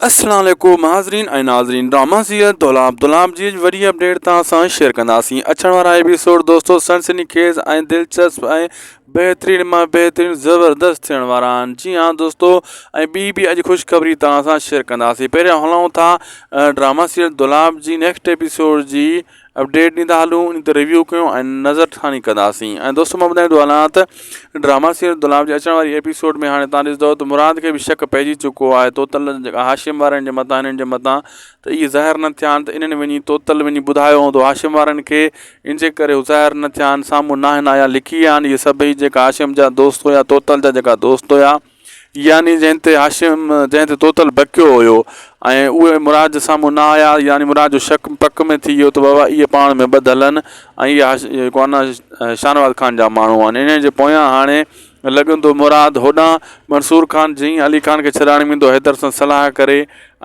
السلام عليڪم حاضرين ۽ ناظرين ڊراما سيريل دولاب دولاب جي وڏي اپڊيٽ توهان سان شيئر ڪنداسين اچڻ وارا ايپيسوڊ دوستو سنسني خيز ۽ دلچسپ ۽ بهترين مان بهترين زبردست ٿيڻ وارا آهن جي ها دوستو ۽ ٻي به اڄ خوشخبري توهان سان شيئر ڪنداسين پهريان هلائون ٿا ڊراما سيريل دولاب جي نيڪسٽ ايپيسوڊ جي اپڊيٽ ڏيندا هلون ان تي ريويو ڪيون ۽ نظر ٿاني ڪنداسين ۽ دوستو مان ٻڌائيندو هلان ته ڊراما سيريل دولاب جي اچڻ واري ايپيسوڊ ۾ هاڻي تان ڏسندو ته مراد کي به شڪ پئجي چڪو آهي توتل جيڪا هاشم وارن جي متان هنن جي متان ته اهي ظاهر نه ٿيا آهن ته انهن وڃي توتل وڃي ٻڌايو هوندو هاشم وارن کي ان جي ڪري هو ظاهر نه ٿيا آهن سامهون ناهن آيا لڪي ويا آهن اهي سڀئي جيڪا هاشم جا دوست هيا توتل جا جيڪا دوست هيا يعني جنهن تي هاشم جنهن تي توتل بڪيو هيو ۽ اهي مراد جي سامهون نه آيا يعني مراد جو شڪ پڪ ۾ ٿي ويو ته بابا اهي پاڻ ۾ ٻڌل آهن ۽ اهي جيڪو آهن شاهنواز خان جا ماڻهو آهن انهن جي پويان هاڻي لڳن ٿو مراد هوڏانهن منصور خان جي علي خان کي ڇڏائڻ ويندو حيدر سان صلاح ڪري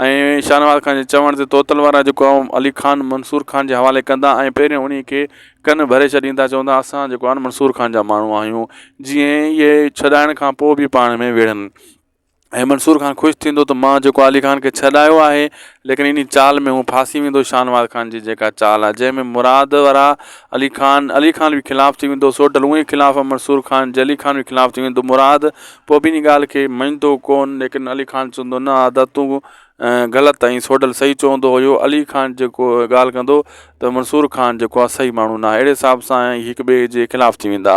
۽ شاهنواز خان جي چوڻ تي توتل وارا جيڪو علي خان منصور خان جي حوالي ڪندا ۽ پهريون انهي کي ڪن ڀري ڇڏين ٿا چون ٿا اسان جيڪو آهن منصور خان جا ماڻهو آهيون جيئن اهي ڇڏائڻ کان پوء بي پاڻ ۾ وڙهن ۽ منصور خان خوش ٿيندو ته مان جيڪو علي خان کي ڇڏايو آهي ليڪن انهي چال ۾ هو ڦاسي ويندو شاهنواز خان جي جيڪا چال آهي جنهن ۾ مراد ورا علي خان علي خان به خلاف ٿي ويندو سوڍل اونهي خلاف آهي منصور خان جي علي خان به خلاف ٿي ويندو مراد پوء به انهي ڳالهه کي مڃيندو ڪون ليڪن علي خان چوندو نه ادا تون غلط ۽ سوڍل صحيح چوندو هيو علي خان جيڪو ڳالهه ڪندو ته منصور خان جيڪو آهي صحيح ماڻهو ناهي اهڙي حساب سان هي هڪ ٻئي جي خلاف ٿي ويندا.